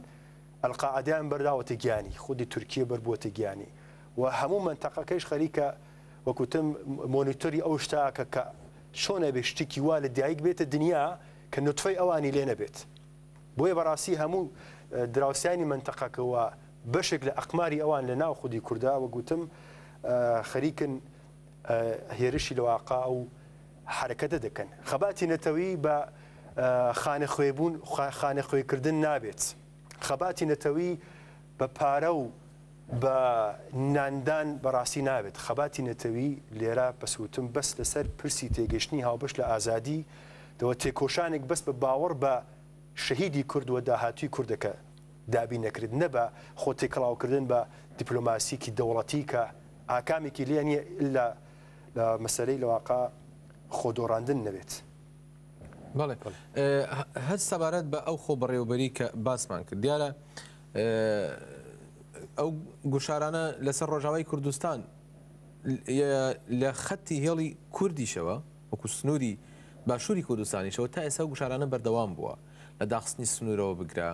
ئەلقاعدیان بەرداوەتە گیانی خودی تورکیە بەربووەتە گیانی و هەموو منتەقەکەیش خەریکە وەکوتم مۆنیتۆری ئەو شتاکە کە چۆنە بێ شتێکی وا لە دایک بێتە دنیا کە نوتفەی ئەوانی لێ نەبێت بۆیە بەڕاستی هەموو دراوسیانی منتەقەکە و بەشێک لە ئەقماری ئەوان لە ناو خودی کوردە وە گوتم خەریکن هێرشی لەواقع و حرەکەتە دەکەن خەباتی نەتەوی بە خانە خوێبوون خانە خوێکردن نابێت. خەباتی نەتەوی بە پارە و بە ناندان بەڕاستی نابێت، خەباتی نەتەوی لێرە بەس وتم بەس لەسەر پرسی تێگەشتنی هاوبەش لە ئازادی دەوە تێکۆشانێک بەس بە باوەڕ بە شەهیدی کورد و داهاتووی کوردەکە دابین نەکرێت نە بە خۆ تێکەڵاو کردن بە دیپلۆماسیەکی دەوڵەتی کە ئاکامێکی لێ نیە ئیلا لە مەسەلەی لەواقە خۆ دۆڕاندن نەبێت. بەڵێ هەر سەبارەت بە ئەو خۆ بەڕێوبەری کە باسمان کرد دیارە ئەو گوشارانە لەسەر ڕۆژاوای کوردستان لە خەتی هێڵی کوردیشەوە وەکو سنووری باشووری کوردستانیشەوە تا ئێستا گوشارانە بەردەوام بووە لە داخستنی سنوورەوە بگرە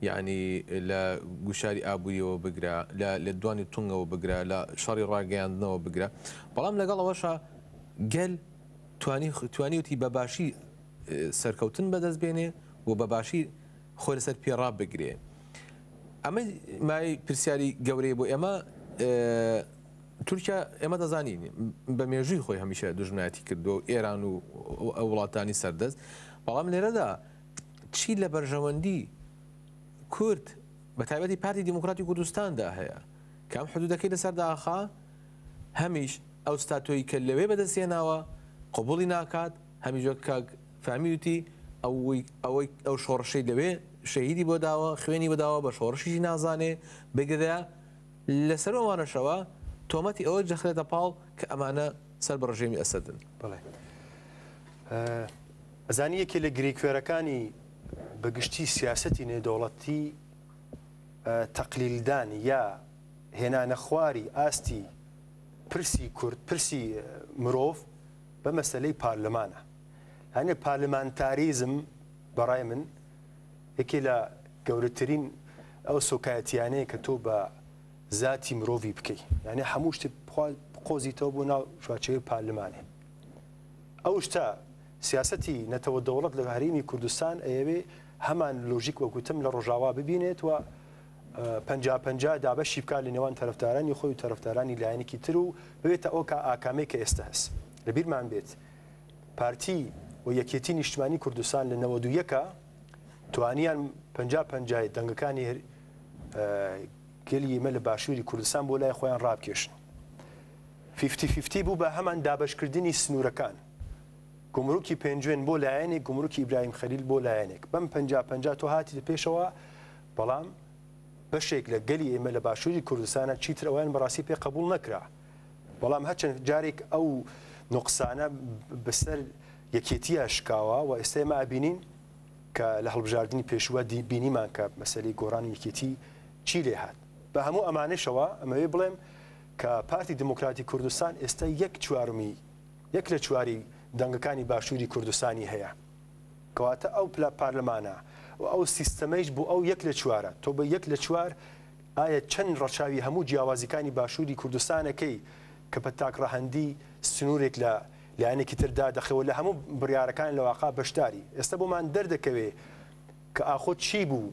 یعنی لە گوشاری ئابووریەوە بگرە لە دوانی تونگەوە بگرە لە شەڕی ڕاگەیاندنەوە بگرە بەڵام لەگەڵ ئەوەشە گەل توانیویەتی بە باشی سەرکەوتن بەدەست بێنێ و بە باشی خۆی لەسەر پێ ڕابگرێ ئەمە مای پرسیاری گەورەی بۆ ئێمە تورکیا ئێمە دەزانین بە مێژووی خۆی هەمیشە دژمنایەتی کردو و ئێران و وڵاتانی سەردەست بەڵام لێرەدا چی لە بەرژەوەندی کورد بە تایبەتی پارتی دیموکراتی کوردستاندا هەیە کام حدودەکەی لەسەر داخا هەمیش ئەو ستاتۆی کە لەوێ بەدەستی هێناوە قبوڵی ناکات، هەمیش وەک کاک فەهمی وتی ئەوەی ئەو شۆڕشەی لەوێ شەهیدی بۆ داوە خوێنی بۆ داوە بە شۆڕشیشی نازانێ، بگرە لەسەر ئەوانەشەوە تۆمەتی ئەوە جەخرێتە پاڵ کە ئەمانە سەر بە ڕژێمی ئەسەدن. بەڵێ ئەزانی یەکێ لە گرێکوێرەکانی بە گشتی سیاسەتی نێودەوڵەتی تەقلیلدان یا هێنانەخواری ئاستی پرسی کورد، پرسی مرۆڤ بە مەسەلەی پارلمانە. یانێ پارلمانتاریزم بە ڕای من یەکێ لە گەورەترین ئەو سوکایەتیانەیە کە تۆ بە زاتی مرۆڤی بکەی. یانێ هەموو شتت بخوا بقۆزیتەوە بۆ ناو چوارچێوەی پارلمانێ. ئەو شتە سیاسەتی نەتەوە دەوڵەت لە هەرێمی کوردستان ئەیەوێ هەمان لۆژیک وەک وتم لە ڕۆژاوا ببینێت و پەنجا پەنجا دابەشی بکات لە نێوان تەرەفدارانی خۆی و تەرەفدارانی لایەنێکی تر و ببێتە ئەو کا ئاکامەی کە ئێستە هەس لە بیرمان بێت پارتی و یەکێتی نیشتمانی کوردستان لە نەوەد و یەکا توانیان پەنجا پەنجای دەنگەکانی گەلی ئێمە لە باشووری کوردستان بۆ لای خۆیان ڕابکێشن فیفتی فیفتی بوو بە هەمان دابەشکردنی سنوورەکان گمرکی پێنجوێن بۆ لایەنێک گمرکی ئیبراهیم خەلیل بۆ لایەنێک بەم پەنجا پەنجا تۆ هاتی لە پێشەوە بەڵام بەشێک لە گەلی ئێمە لە باشووری کوردستانە چیتر ئەوەیان بەڕاستی پێ قبوڵ نەکرا بەڵام هەرچەند جارێک ئەو نوقسانە بەسەر یەکێتیە شکاوە و ئێستا ئێمە ئابینین کە لە هەڵبژاردننی پێشوە دی بینیمان کە مەسەری گۆڕانی یەکێتی چی لێ هاات بە هەموو ئەمانشەوە ئەمەوێ بڵێم کە پارتی دموکراتی کوردستان ئێستا یەک چوارمی یەک لە چواری دەنگەکانی باشووری کوردستانی هەیە کەواتە ئەو پلە پارلەمانە و ئەو سیستەمەیش بۆ ئەو یەک لە چوارە، تۆ بە یەک لە چوار ئایا چەند ڕەچاوی هەموو جیاوازیکانی باشووری کوردستانەکەی کە بە تاک ڕەهەندی سنوورێک لە لایەنێکی تر دادەخەی و لە هەموو بڕیارەکان لە واقع بەشداری؟ ئێستا بۆمان دەردەکەوێ کە ئاخۆ چی بوو؟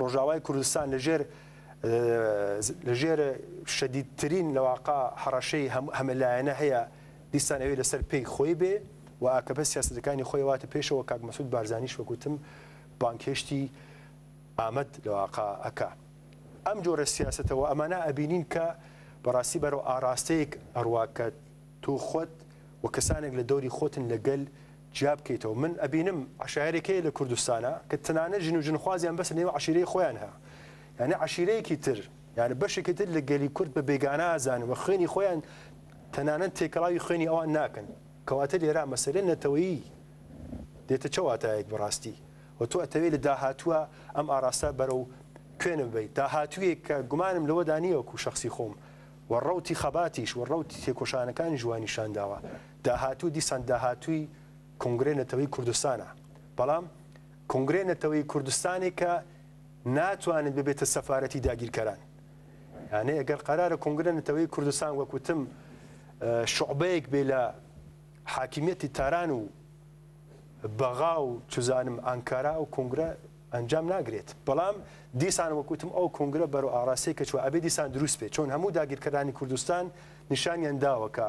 ڕۆژاوای کوردستان لە ژێر لە ژێر شەدیدترین لەواقع هەڕەشەی هەمەلایەنە هەیە دیسان ئەوێ لەسەر پێی خۆی بێ و ئاکەپە سیاستەکانی خۆی واتە پێشەوە کاک مەسود بارزانانیش وەکوتم بانکهێشتی ئامد لەواقع ئەکا ئەم جۆرە سیاستەوە ئەمانە ئەبینین کە بەڕاستی بەرەو ئاراستەیەک ئەڕواکە تۆ خۆت و کەسانێک لە دەوری خۆتن لەگەل جیا بکەیتەوە من ئەبینم عەشایەرێک هەیە لە کوردستانا کە تەنانەت ژن و ژنخوازیان بەسە نێو عەشیرەی خۆیان ها یانە عەشیرەیەکی تر یانە بەشێکی تر لە گەلی کورد بە بێگانە ئازانن و خوێنی خۆیان تەنانەت تێکەڵاوی خوێنی ئەوان ناکەن کەواتە لێرا مەسەلە نەتەوەیی دێتە چ واتایەک بەڕاستی و تۆ ئەتەوێت لە داهاتووە ئەم ئاراستە بەرە و کوێنە ببیت داهاتوویەک کە گومانم لەوەدا نییەوەکو شخصی خۆم و ڕوتی خەباتیش و ڕوتی تێکۆشانەکانی ژوانیشانداوە داهاتوو دیسان داهاتووی کۆنگرەی نەتەوەی کوردستانە، بەڵام کۆنگرەی نەتەوەی کوردستانێکە ناتوانێت ببێتە سەفارەتی داگیرکەران. یانێ ئەگەر قەرارە کۆنگرە نەتەوەی کوردستان وەک وتم شعبەیەک بێ لە حاکمیەتی تاران و بەغا و چزانم ئانکارا و کۆنگرە ئەنجام ناگرێت بەڵام دیسان وەکوتم ئەو کۆنگرە بەرو ئاراسی کە چوە ئەبێ دیسان دروست بێت چۆن هەموو داگیرکەرانی کوردستان نیشانیان داوە کە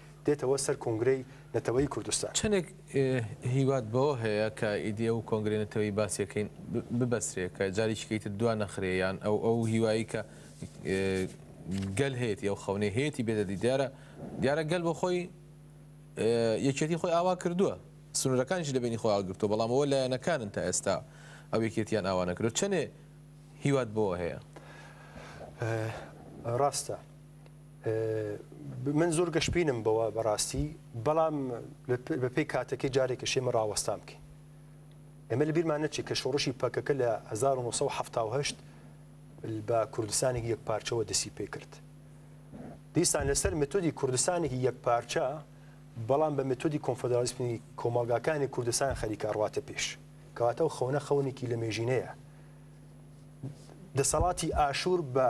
دێتەوە سەر کۆنگرەی نەتەوەیی کوردستان. چەندێک هیوات بەوە هەیە کە ئیدی ئەو کۆنگرەی نەتەوەیی باسی ئەکەین ببەسرێ کە جاریکیکەی تر دوا نەخرێ یان ئەو ئەو هیوایی کە گەل هەیەتی ئەو خەونەی هەیەتی بێتە دی دیارە دیارە گەل بۆ خۆی یەکێتی خۆی ئاوا کردووە سنوورەکانیش لە بینی خۆی هەڵگرتووە بەڵام ئەوە لایەنەکانن تا ئێستا ئەو یەکێتیان ئاوا نەکرێت چەنێ هیوات بۆ هەیە ڕاستە من زۆر گەشبینم بەوە بەڕاستی بەڵام بەپی کاتەکەی جارێکە شێمە ڕاوەستان بکەین ئێمە لە بیرمان نەچێ کە شۆڕشی پەکەکە لە 1970 بە کوردستانێکی یەک پارچەوە دەسی پێ کرد دیسان لەسەر متودی کوردستانێکی یەک پارچە بەڵام بە متودی کۆنفدرالیسمی کۆمەڵگاکانی کوردستان خەریکە ڕاتە پێش کەواتە و خەونە خەونێکی لە مێژینەیە دەسەڵاتی ئاشور بە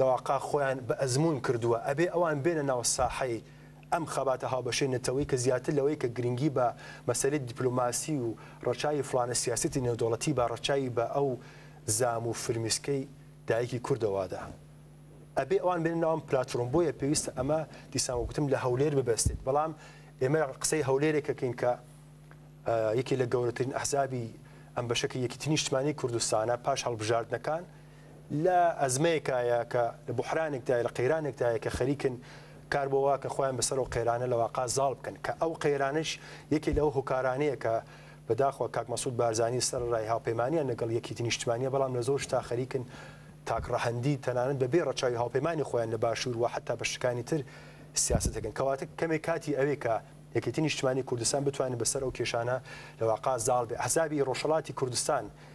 لەواقع خۆیان بە ئەزموون کردووە، ئەبێ ئەوان بێنە ناو ساحەی ئەم خەباتە هاوبەشەی نەتەوەیی کە زیاتر لەوەی کە گرنگی بە مەسەلەی دیپلۆماسی و ڕەچاوی فڵانە سیاسەتی نێودەوڵەتی با ڕەچاوی بە ئەو زام و فرمیسکەی دایکی کوردەوادا ئەبێ ئەوان بێنە ناو ئەم پلاتفۆرم بۆیە پێویستە ئەمە دیسان وەک گوتم لە هەولێر ببەستێت بەڵام ئێمە قسەی هەولێرێک کەکەین کە یەکی لە گەورەترین ئەحزابی ئەم بەشەکە یەکیتنی نیشتمانی کوردستانە پاش هەڵبژاردنەکان لە ئەزمەیەکایە کە لە بوحرانێکدایە، لە قەیرانێکدایە کە خەریکن کار بۆ وا کە خۆیان بەسەر ئەو قەیرانە لە واقا زاڵ بکەن کە ئەو قەیرانەش یەکێ لەو هۆکارانەیە کە بە داخوا کاک مەسعود بارزانی سەرەڕای هاوپەیمانیان لەگەڵ یەکیتی نیشتمانیە بەڵام لە زۆر شتا خەریکن تاک ڕەهەندی تەنانەت بە بێ ڕەچاوی هاوپەیمانی خۆیان لە باشور و حەتا بەشەکانی تر سیاسەت دەکەن کەواتە کەمێ کاتی ئەوێ کە یەکێتی نیشتمانی کوردستان بتوانێت بەسەر ئەو کێشانە لە واقا زاڵ بێ ئەحزابی ڕۆژهەڵاتی کوردستان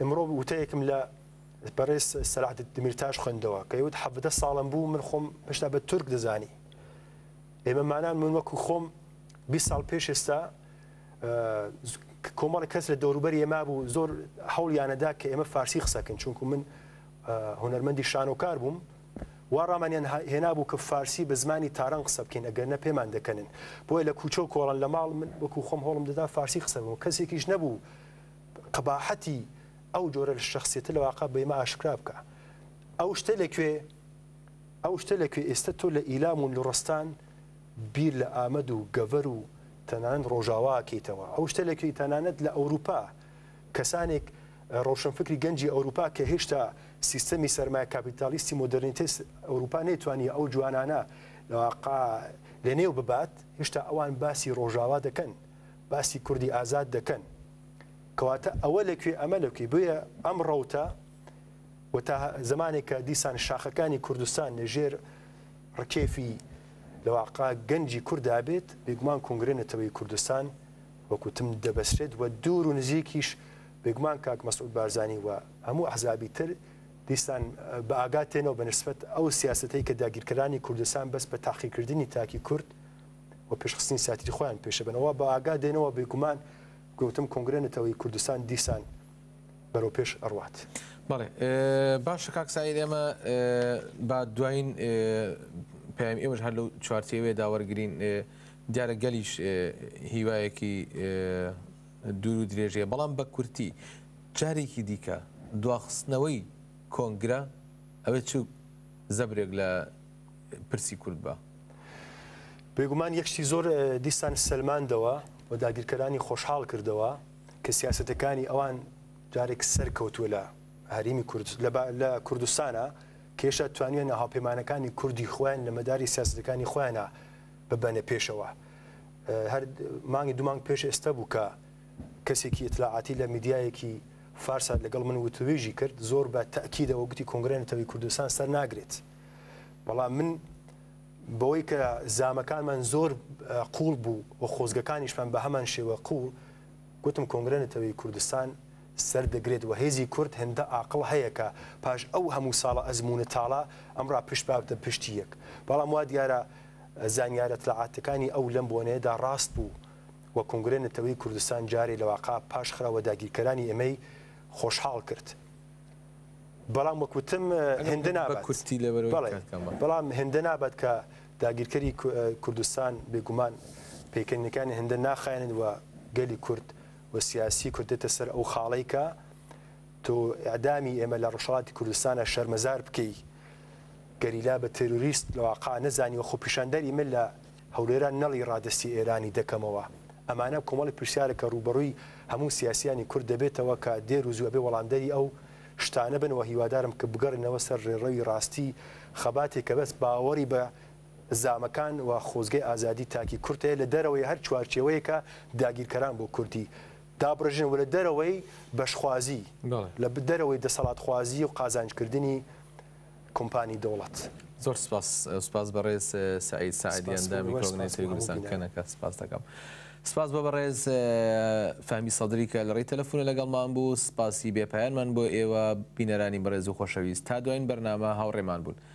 ئمڕۆ وتەیەکم لە بەڕێز سەلات دمیرتاش خوێندەوە کە یوت حەڤدە ساڵم بوو من خۆم هشتا بە تورک دەزانی ئێمە مانان من وەکو خۆم 20 ساڵ پێش ئێستا کۆمەڵی کەس لە دەوروبەر ئێما بوو زۆر هەوڵیانەدا کە ئێمە فارسی قسەکەن چونکو من هوەرمەندی شانۆکار بووم وا ڕامانیان هێنابوو کە فارسی بە زمانی تاران قسە بکەین ئەگەرنا پێمان دەکەنن بۆیە لە کوچە و کۆڵان لە ماڵ من وەکو خۆم هەوڵم دەدا فارسی قسە بکەم کەسێکیش نەبوو قەباحەتی ئەو جۆرە لە شەخسیەتە لە واقع بە ئێمە ئاشکرا بکا ئەو شتە لە کوێ ئەو شتە لە کوێ ئێستە تۆ لە ئیلام و لوڕستان بیر لە ئامەد و گەڤەر و تەنانەت ڕۆژاواکەیتەوە ئەو شتە لە کوێی تەنانەت لە ئەوروپا کەسانێک ڕۆشنفکری گەنجی ئەوروپا کە هێشتا سیستەمی سەرمایە کاپیتالیستی مۆدێرنیتەی ئەوروپا نەیتوانیە ئەو جوانانە لەنێو ببات، هێشتا ئەوان باسی ڕۆژاوا دەکەن، باسی کوردی ئازاد دەکەن. کەواتە ئەوە لە کوێ ئەمە لە کوێ؟ بۆیە ئەم ڕەوتە و تا زمانێکە دیسان شاخەکانی کوردستان لە ژێر ڕکێفی لە واقع گەنجی کورددا بێت، بێگومان کۆنگرەی نەتەوەی کوردستان، وەک وتم دەبەسرێت و دوور و نزیکیش بێگومان کاک مەسعود بارزانی و هەموو ئەحزابی تر دیسان بە ئاگا تێنەوە بە نسبەت ئەو سیاستەی کە داگیرکەرانی کوردستان بەس بە تاقیکردنی تاکی کورد و پێشخستنی ساتری خۆیان پێشەبنەوە بە ئاگا دێنەوە بێگومان گوتم کۆنگرە نەتەوەی کوردستان دیسان بەرەو پێش ئەڕوات. بەڵێ باشە کاکسایر ئێمە با دوایین پەیام ئێوەش هەر لەو چوارچێوێدا وەرگین دیارە گەلیش هیوایەکی دوور و درێژ هەیە، بەڵام بە کورتی جارێکی دیکە دواخستنەوەی کۆنگرە ئەبێت چ زەبرێک لە پرسی کورد بە. بێگومان یەک شتی زۆر دیسان سەلماندەوە و داگیرکەرانی خۆشحاڵ کردەوە کە سیاسەتەکانی ئەوان جارێک سەرکەوتووە لە هەرێمی کورد لە کوردستانا کە هێشتا توانیویانە هاوپەیمانەکانی کوردی خۆیان لە مەداری سیاسەتەکانی خۆیانا ببەنە پێشەوە. هەر مانگی دوو مانگ پێش ئێستا بوو کە کەسێکی ئیتلاعاتی لە میدیایەکی فارسە لەگەڵ من وتووێژی کرد زۆر بە تەکیدەوە گوتی کۆنگرە نەتەوەی کوردستان سەر ناگرێت بەڵام من بەوەی کە زامەکانمان زۆر قوڵ بوو و خۆزگەکانیشمان بە هەمان شێوە قوڵ گوتم کۆنگرە نەتەوەی کوردستان سەر دەگرێت وە هێزی کورد هێندە ئاقڵ هەیە کە پاش ئەو هەموو ساڵە ئەزموونە تاڵە ئەمڕا پشت بابتە پشتی یەک بەڵام وا دیارە زانیارە اطلاعاتەکانی ئەو لەم بۆنەیەدا ڕاست بوو وە کۆنگرەی نەتەوەی کوردستان جارێ لەواقا پاش خرا وە داگیرکەرانی ئێمەی خۆشحاڵ کرد بەڵام وەک وتم هێندە نابات بەڵێ بەڵام هێندە نابات کە داگیرکەری کوردستان بێگومان پێکەنینەکانی هێندە ناخایەنن وە گەلی کورد و سیاسی کردێتە سەر ئەو خاڵەی کە تۆ ئیعدامی ئێمە لە ڕۆژهەڵاتی کوردستانە شەرمەزار بکەی گەریلا بە تێروریست لەواقا نەزانی و خۆپیشاندەری من لە هەولێران نەڵی ڕادەستی ئێرانی دەکەمەوە ئەمانە کۆمەڵی پرسیارە کە ڕووبەڕووی هەموو سیاسیانی کورد دەبێتەوە کە دێر و زوو ئەبێ وەڵامدەری ئەو شتانە بن و هیوادارم کە بگەڕێنەوە سەر ڕێڕەوی ڕاستی خەباتێک کە بەس باوەڕی بە زامەکان و خۆزگەی ئازادی تاکی کورد هەیە لە دەرەوەی هەر چوارچێوەیەکە داگیرکەران بۆ کوردی دابڕێژن و لە دەرەوەی بەشخوازی لە دەرەوەی دەسەڵاتخوازی و قازانجکردنی کۆمپانی دەوڵەت. زۆر سپاس سپاس بەڕێز سەعید سەعدی ئەندامی کۆبنەی سەری کوردستان کەنەکە سپاس دەکەم سپاس بۆ بەڕێز فەمی سەدری کە لە ڕێی تەلەفۆنە لەگەڵمان بوو سپاسی بێپایانمان بۆ ئێوە بینەرانی بەڕێز و خۆشەویست تا دوایین بەرنامە هاوڕێمان بوون